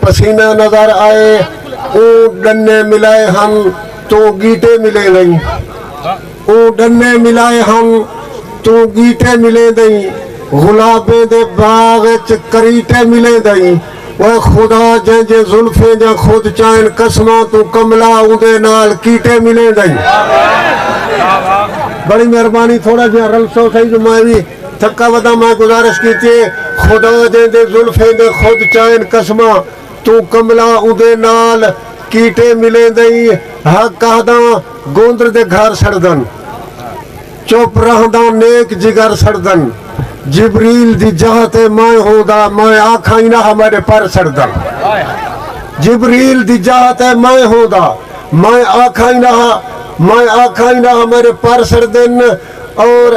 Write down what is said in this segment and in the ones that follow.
پسینہ نظر آئے اوں ڈنے ملائے ہن توں گیٹے ملیں دئیں اوں ڈنے ملائے ہن توں گیٹے ملیں دئیں غلابیں دے باغ اچ کریٹے ملیں دئیں اوئے خدا جیں جیں زلفیں دیاں خود چائن قسماں توں کملا اوندے نال کیٹے ملیں دئیں۔ بڑی مہربانی تھوڑا جیہاں رلسو سہی جو میں وی تھکا ودا میں گزارش کیتی اے خدا جیندے زلفیں دے خود چائن قسماں توں کملا اوندے نال کیٹے ملیندئیں ہک آہداں گوندر دے گھر سڑدن چپ رہنداں نیک جگر سڑدن جبریل دی جاہ تے میں ہوندا میں آکھائیں نہ ہا میڈے پر سڑدن جبریل دی جاہ تے میں ہوندا میں آکھائیں نہ ہا میں آکھائیں نہ ہا میڈے پر سڑدن اور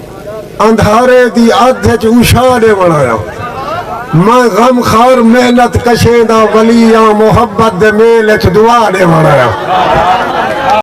اندھارے دی ادھ اچ اوشا ڈیوݨ آیا میں غم خار محنت کشیں دا ولی آں محبت دے میل اچ دعا ڈیوݨ آیا۔